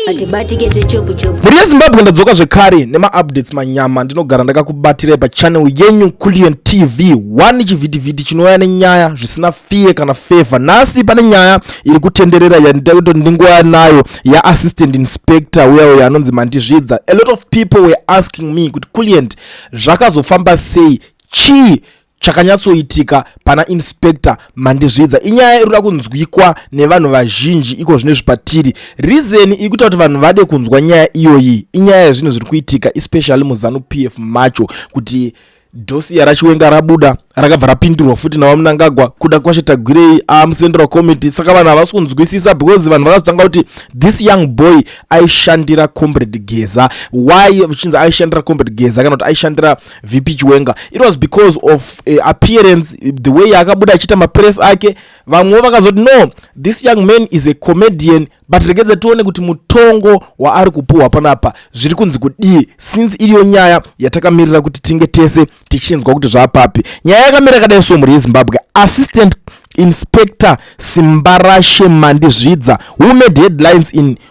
hatibatike zvechopuchopu mhuri yezimbabwe ndadzoka zvekare nemaupdates manyama ndinogara ndakakubatirai pachannel yenyu kulion tv 1 chivhitivhiti chinouya nenyaya zvisina fear kana favor nhasi pane nyaya iri kutenderera yandida kuti ndingouya nayo yaassistant inspector uya uya anonzi mandizvidza a lot of people were asking me kuti kulient zvakazofamba sei chii chakanyatsoitika pana inspector mandizvidza inyaya iri kuda kunzwikwa nevanhu vazhinji iko zvino izvi patiri rizeni iri kuita kuti vanhu vade kunzwa nyaya iyoyi inyaya yezvinhu zviri kuitika especially muzanu p f macho kuti dosiya rachiwenga rabuda rakabva rapindurwa futi navamunangagwa kuda kwashe tagwirei amucentral committee saka vanhu havasi kunzwisisa because vanhu vakazotanga kuti this young boy aishandira combrade geza why vachinzi aishandira combrade geza kana kuti aishandira vp chiwenga it was because of uh, appearance the way yaakabuda achiita mapress ake vamwewo vakazoti no this young man is a comedian but regedza tione kuti mutongo waari kupuhwa panapa zviri kunzi kudii since iriyo nyaya yatakamirira kuti tinge tese tichinzwa kuti zvaapapi nyaya yakamira kadai so mhuri yezimbabwe assistant inspector simbarashe mandizvidza who made headlines in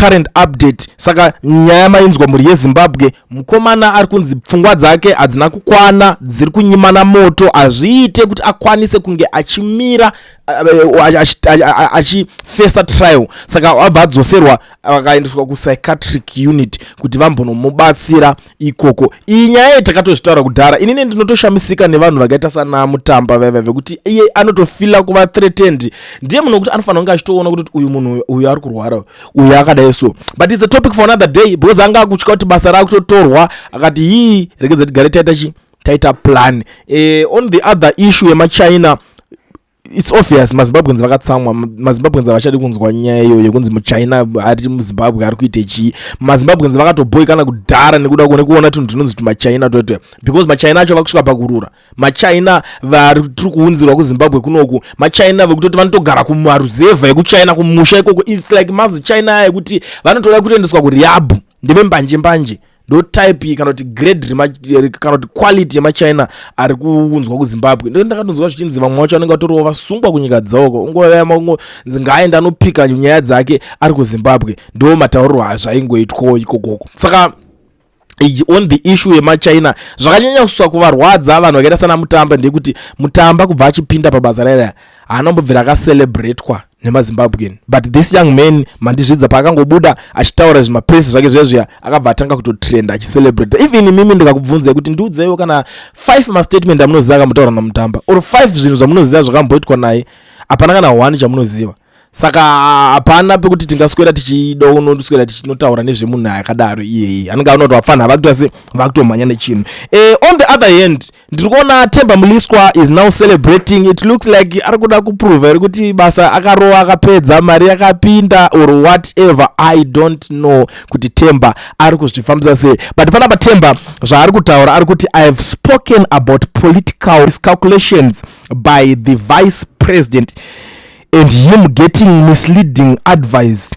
current update saka nyaya mainzwa mhuri yezimbabwe mukomana ari kunzi pfungwa dzake hadzina kukwana dziri kunyimana moto hazviite kuti akwanise kunge achimira achifesa trial saka abva adzoserwa akaendeswa kupsychiatric unit kuti vambonomubatsira ikoko iyi nyaya iyi takatozvitaura kudhara inini ndinotoshamisika nevanhu vakaita sanamutamba vaiva vekuti iye anotofila kuva threatened ndiye munhu wekuti anofanira kunge achitoona kuti uyu munhu uyu ari kurwara uyu akadai so but its a topic for another day because anga akutya kuti basa raakutotorwa akati hii rekedza tigare taita chi taita plan eh, on the other issue yemachina its obvious mazimbabweans vakatsamwa mazimbabweans havachadi kunzwa nyaya iyoyo yekunzi muchina ari muzimbabwe ari kuite chii mazimbabweans vakatoboikana kudhara nekuda kune kuona tunhu tunonzi tumachina twetwe because machina acho vakusvika pakurura machina vari tiri kuunzirwa kuzimbabwe kunoku machina vekutoti vanotogara kumaruzevha ekuchina kumusha ikoko its like mazi china aya ekuti vanotoda kutoendeswa kuriabhu ndeve mbanje mbanje ndotype kana kuti grade kana kuti quality yemachina ari kuunzwa kuzimbabwe ndo ndakatonzwa zvichinzi vamwe vacho vanenge vatoriwo vasungwa kunyika dzauko ungoyamaungo nzi ngaaenda anopika nyaya dzake ari kuzimbabwe ndo matauriro azvaingoitwawo ikokoko saka on the issue yemachina zvakanyanya kuswa kuvarwadza vanhu vakaita sana mutamba ndekuti mutamba kubva achipinda pabasa rairaa haana mbobvira akacelebratwa nemazimbabwean but this young man mandizvidza paakangobuda achitaura zvimapresi zvake zviya zviya akabva atanga kutotrenda achicelebrate even imimi ndikakubvunzai kuti ndiudzeiwo kana five mastatement amunoziva akamutoura namutamba or five zvinhu zvamunoziva zvakamboitwa naye hapana kana one chamunoziva saka hapana pekuti tingaswera tichida unoswera tichinotaura nezvemunhu akadaro iyeye anenge anoto vapfanha vakutoa se vakutomhanya nechinhu e, on the other hand ndiri kuona temba muliswa is now celebrating it looks like ari kuda kuprova iri kuti basa akarova akapedza mari yakapinda or whatever i don't know kuti temba ari kuzvifambisa sei but panapa temba zvaari kutaura ari kuti i have spoken about political calculations by the vice president and him getting misleading advice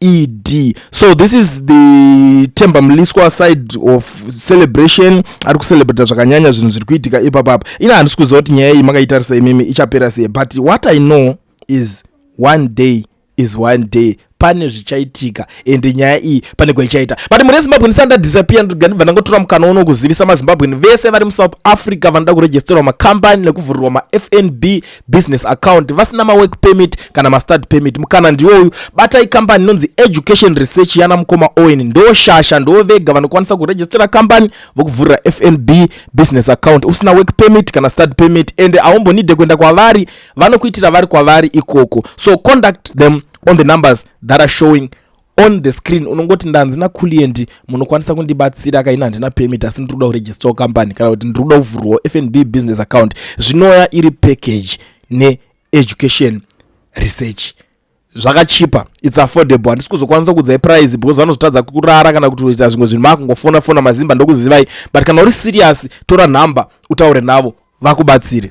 ed so this is the temba mliswa side of celebration ari kucelebrata zvakanyanya zvinhu zviri kuitika ipapapa ina handisi kuziva kuti nyaya iyi makaitarisa imimi ichapera sei but what i know is one day is one day pane zvichaitika ende nyaya iyi pane kwaichaita but mune zimbabwe ndisanda disappear ndinga ndibva ndangotora mukana uno kuzivisa mazimbabweni vese vari musouth africa vanoda kuregisterwa makambani nekuvhurirwa mafnb business account vasina mawork permit kana mastad permit mukana ndiwoyu batai kambani inonzi education research yana mukoma owen ndo shasha ndo vega vanokwanisa kurejistera kambani vokuvhurira fnb business account usina work permit kana stad permit ende aumbonide kuenda kwavari vanokuitira vari kwavari ikoko so conduct them on the numbers that are showing on the screen unongoti ndanzi nakulienti munokwanisa kundibatsira kaina handina permit asi ndiri kuda kuregistawo company kana kuti ndiri kuda kuvhurwawo fnb business account zvinouya iri package needucation research zvakachipa its affordable handisi kuzokwanisa kuudzai price because vanozotadza kurara kana kuti kuita zvimwe zvinhu makungofona fona mazimba ndokuzivai but kana uri serious tora nhamba utaure navo vakubatsire